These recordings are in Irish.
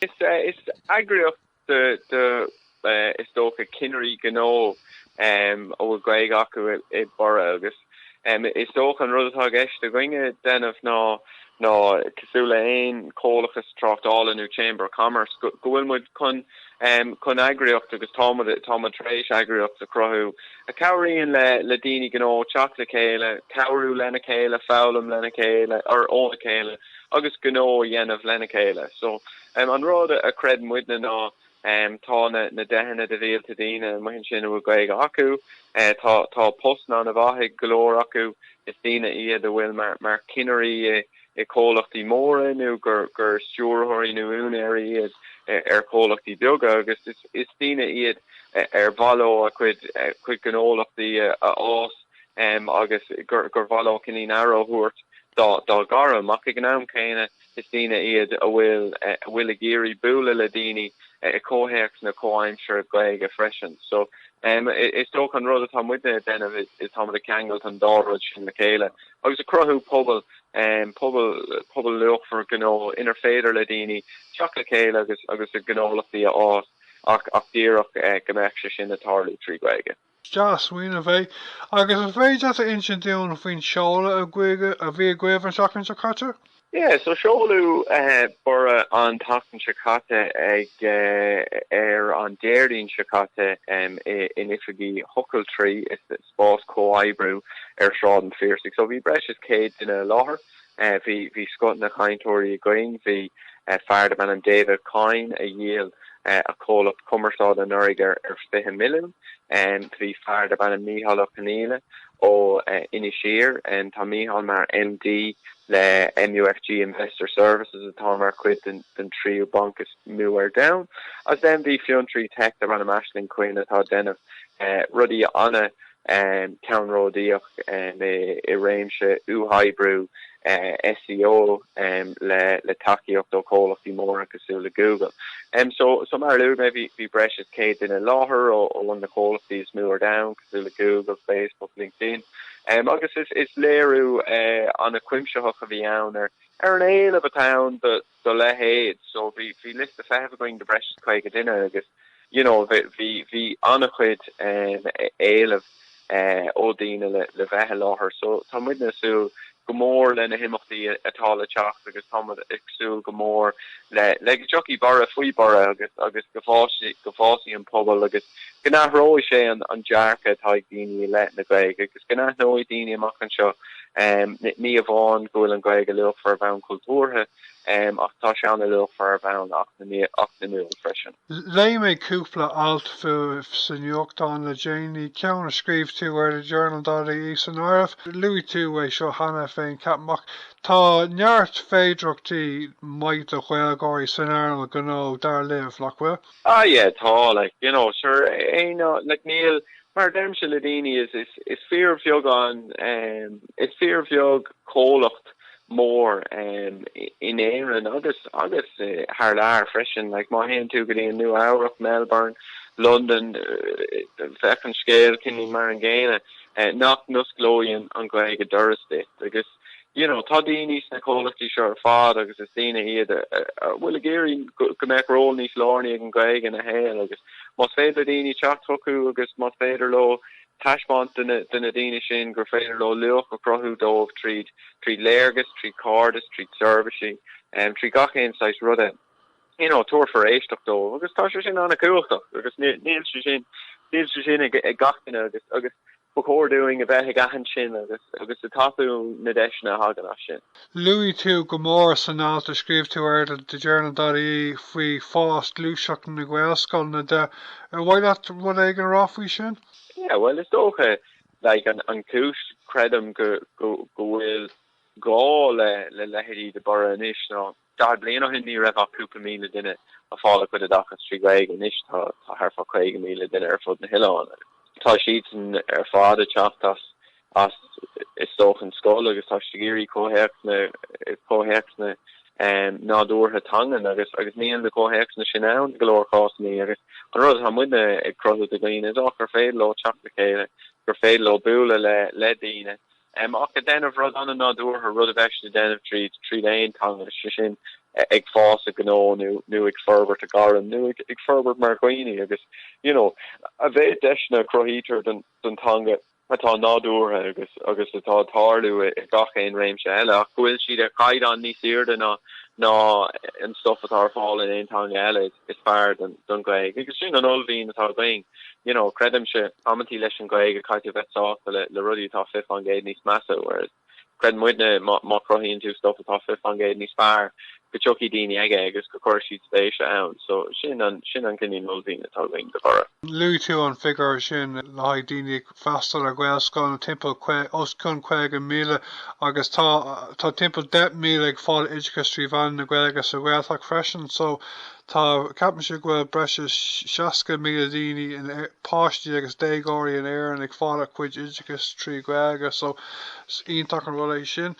Is eagraíocht de, is dócha, ceannairí gnó a bhfuil Gaeilge acu i Borradh agus is dócha an rud atá i gceist againne a dhéanamh ná, cosúil le haon chomhlachas tráchtála nó Chamber of Commerce, go bhfuil muid chun eagraíocht agus tá muid tar éis eagraíocht a chruthú a chabhraíonn le daoine gnó teacht le chéile, cabhrú lena chéile, foghlaim lena chéile, óna chéile. agus gnó a dhéanamh lena chéile. So, an rud a chreid muidne ná tá na deicheanna de mhílte daoine amuigh ansin a bhfuil Gaeilge acu, tá postanna an-mhaith ag go leor acu, is daoine iad a bhfuil mar cheannairí i comhlachtaí móra nó gur stiúrthóirí nó úinéirí iad ar chomhlachtaí beaga agus is daoine iad ar mhaith leo a gcuid gnólachtaí a fhás em, agus gur gur mhaith leo cinéal aire a thabhairt dá dá ngairm, ach ag an am céanna is daoine iad a bhfuil a bhfuil ag iarraidh bualadh le daoine i comhthéacs nua-aimsire Gaeilge freisin. So, em, is dócha an rud atá muidne ag déanamh is is táimid ag ceangailt an dá rud sin le chéile agus ag cruthú pobal, em, pobal pobal luachmhar gnó inar féidir le daoine teacht le chéile agus agus a ngnólachtaí a fhás ach ach díreach eh go mbeadh sé sin ag tarlú trí Ghaeilge. dea-smaoineamh é, agus an bhféadfá a insint dúinn faoin seoladh a bhí agaibh an tseachtain seo caite? Yeah, so seoladh Borradh an tseachtain seo caite ag ar an Déardaoin seo caite in oifigí The Tara, spás comhoibriú ar Shráid an Phiarsaigh, so bhí breis is 100 duine i láthair. Bhí scoth na gcainteoirí againn. Bhí fear darb ainm David Kyne a dhíol a chomhlacht cumarsáide anuraidh ar 20 milliún. Bhí fear darb ainm Mícheál Ó Conghaile ó Inis Oírr, tá Mícheál mar MD le MUFG Investor Services atá mar chuid den tríú banc is mó ar domhan. Agus bhí fiontraí teic darb ainm Aisling Quinn atá ag déanamh rudaí an- um ceannródaíoch um i réimse uathoibriú uh SEO um le le tacaíocht ó chomhlachtaí móra cosúil le Google. Um so so mar a luaigh mé bhí bhí breis is 100 duine i láthair ó ó na comhlachtaí is mó ar domhan cosúil le Google, Facebook, LinkedIn. Um agus is is léiriú uh an-chuimsitheach a bhí ann ar ar an éileamh atá ann do dá leithéid. So bhí, bhí liosta feithimh againn do bhreis is caoga duine agus you know bhí, bhí, bhí an-chuid em, éileamh eh ó daoine le, le bheith i láthair. So tá muidne ag súil go mór le na himeachtaí atá le teacht agus tá muid ag súil go mór le, le go dtiocfaidh borradh faoi Borradh agus, agus go bhfásfaidh, go bhfásfaidh an pobal agus. go n-athróidh sé an dearcadh atá ag daoine i leith na Gaeilge agus go n-aithneoidh daoine amach anseo ní amháin go bhfuil an Ghaeilge luachmhar ar bhonn cultúrtha ach tá sé an-luachmhar ar bhonn eacnamúil freisin. Léigh mé cúpla alt fúibh sa nuachtán le déanaí, ceann a scríobh tú ar The Journal.ie san áireamh. Luaigh tú é seo cheana féin, ceapaim, ach tá neart féidearthachtaí maith do Ghaeilgeoirí san earnáil ghnó, dar libh, nach bhfuil? Ah yeah tá like you know sure eh no like níl mar deirimse le daoine is is is fíor bheag an em is fíor bheag comhlacht mór em in Éirinn agus agus eh, thar lear freisin like má théann tú go dtí an Nua Eabhrac Melbourne London eh, bheadh an scéal cineál mar an gcéanna eh, nach n-osclóidh an an Ghaeilge doras duit agus you know, tá daoine sna comhlachtaí seo ar fad agus is daoine iad a bhfuil ag iarraidh go mbeadh ról níos lárnaí ag an Ghaeilge ina shaol agus más féidir le daoine teacht chucu agus más féidir leo taispeáint do na daoine sin gur féidir leo luach a chruthú dóibh tríd tríd léargas, tríd cairdeas, tríd seirbhísí, um, trí gach aon saghas ruda, you know, tabharfar éisteacht dóibh agus tá sé sin an-chumhachtach agus níl sé sin, níl sé sin ag, ag gach duine agus, agus Ba chóir dúinn a bheith ag aithint sin agus ag tapú na deiseanna a thagann as sin. Luaigh tú go mór san alt a scríobh tú ar The Journal.ie faoi fás gluaiseacht na nGaelscoileanna de. Ar mhaith leat rud éigin a rá faoi sin? Yeah, bhuel, is dócha, like, an an chúis, creidim, go go go bhfuil gá le le leithéidí de Borradh anois ná, 40 bliain ó shin ní raibh ach cúpla míle duine ag fáil a gcuid oideachas trí Ghaeilge, anois tá thart fá 50,000 duine ar fud na hoileáin agus. tá siadsan ar fad ag teacht as as is dócha an scoil agus tá siad ag iarraidh comhthéacsanna comhthéacsanna nádúrtha teangan agus agus níl na comhthéacsanna sin ann i go leor cásanna agus an rud atá muidne ag cruthú do dhaoine is dócha gur féidir leo teacht le chéile gur féidir leo bualadh le le daoine M, Ach ag déanamh rud an-nádúrtha, rud a bheadh siad ag déanamh tríd, tríd aon teanga, sé sin, ag fás i ngnó nó, nó ag forbairt a ngairm, nó ag, ag forbairt mar dhaoine agus, you know, a mhéad deiseanna a chruthaítear don, don teanga atá nádúrtha agus, agus atá ag tarlú i, i gach aon réimse eile, ach go bhfuil siad ar chaighdeán níos airde ná, ná an stuff atá ar fáil in aon teanga eile, is, is fearr don, don Ghaeilge. Agus sin an uaillmhian atá againn. you know, creidimse, amanntaí leis an Ghaeilge caithfidh tú a bheith sásta le le rudaí atá 20% níos measa, whereas creideann muidne má má chruthaíonn tú stuff atá 20% níos fearr go dtiocfaidh daoine chuige agus go gcuirfidh siad spéis ann. So sin an sin an cineál uaillmhian atá againn do Bhorradh. Luaigh tú an figiúr sin le haghaidh daoine Freastal ar Gaelscoileanna timpeall os cionn 50,000 agus tá tá timpeall 10,000 ag fáil oideachais trí mheán na Gaeilge sa Ghaeltacht freisin. So tá ceapaimse go bhfuil breis is 60,000 daoine páistí agus déagóirí in Éirinn ag fáil a gcuid oideachais trí Ghaeilge so is iontach an rud é sin.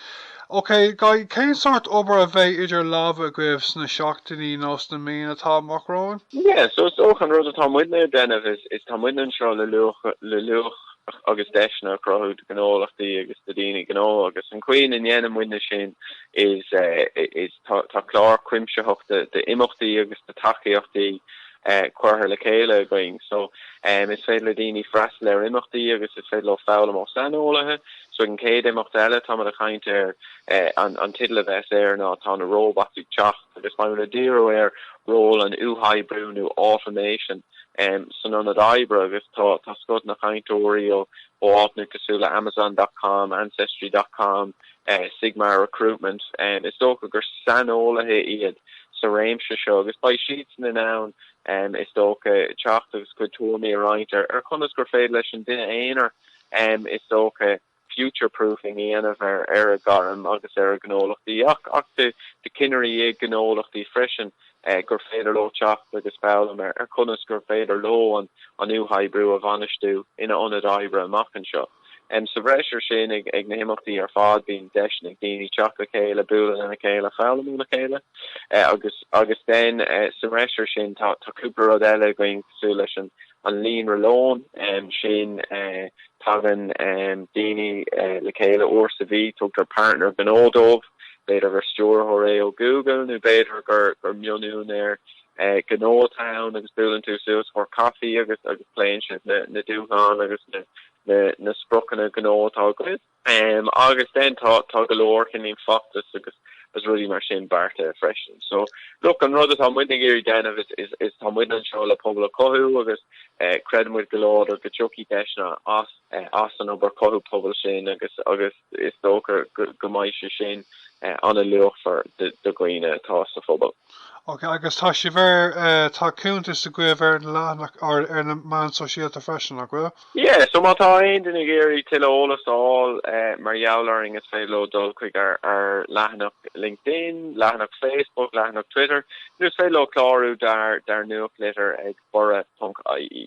OK, guys, cén sórt obair a bheidh idir lámha agaibh sna seachtainí nó sna míonna atá amach romhainn? Yeah, so is dócha an rud atá muidne ag déanamh is, is tá muidne anseo le luach, le luach agus deiseanna a chruthú do ghnólachtaí agus do daoine gnó agus an chaoi a ndéanann muidne sin is, is tá, tá clár cuimsitheach de, de imeachtaí agus de tacaíochtaí eh, cuirthe le chéile againn. So, em, is féidir le daoine freastal ar imeachtaí agus is féidir leo foghlaim ó saineolaithe, Ag an chéad imeacht eile, táimid ag caint ar an teideal a bheas air ná 'Tá na Robots ag Teacht' agus beimid ag díriú ar ról an uathoibriú nó automation san ionad oibre agus tá scoth na gcainteoirí ó áiteanna cosúil le Amazon dot com, Ancestry dot com, Sigmar Recruitment. Is dócha gur saineolaithe iad sa réimse seo agus beidh siadsan in ann, is dócha, teacht agus a gcuid tuairimí a roinnt ar chonas gur féidir leis an duine aonair, is dócha, future proofing a dhéanamh ar a gairm agus ar a gnólachtaí ach do cinnirí i gnólachtaí freisin gur féidir leo teacht agus foghlaim ar chonas gur féidir leo an uathoibriú a bhainistiú ina ionad oibre amach anseo. Sa bhreis ar sin, ag na himeachtaí ar fad bíonn deis ag daoine teacht le chéile, bualadh lena chéile, foghlaim óna chéile agus, then, sa bhreis ar sin tá cúpla rud eile againn cosúil leis an an líonra lón sin. Tagann daoine le chéile uair sa mhí, tugtar partner gnó dóibh, b'fhéidir gur stiúrthóir é ó Google nó b'fhéidir gur mion-úinéir gnó atá ann, agus buaileann tú suas for coffee agus pléann sibh na dúshláin agus na spriocanna gnó atá agaibh. Agus then tá tá go leor cinn em feachtas agus agus rudaí mar sin beartaithe freisin. So look, an rud atá muidne ag iarraidh déanamh is is is tá muid anseo le pobal a chothú agus eh creideann muid go láidir go dtiocfaidh deiseanna as eh as an obair cothú pobail sin agus agus is dócha go go mbeidh sé sin eh an-luachmhar do do dhaoine atá sa phobal. Ok, agus tá sibh ar, tá cuntas agaibh ar an leathanach, ar na meáin sóisialta freisin, nach bhfuil? Yeah, so má tá aon duine ag iarraidh tuilleadh eolas a fháil mar gheall orainn is féidir leo dul chuig ár leathanach LinkedIn, leathanach Facebook, leathanach Twitter, nó is féidir leo clárú dár nuachtlitir ag borradh.ie.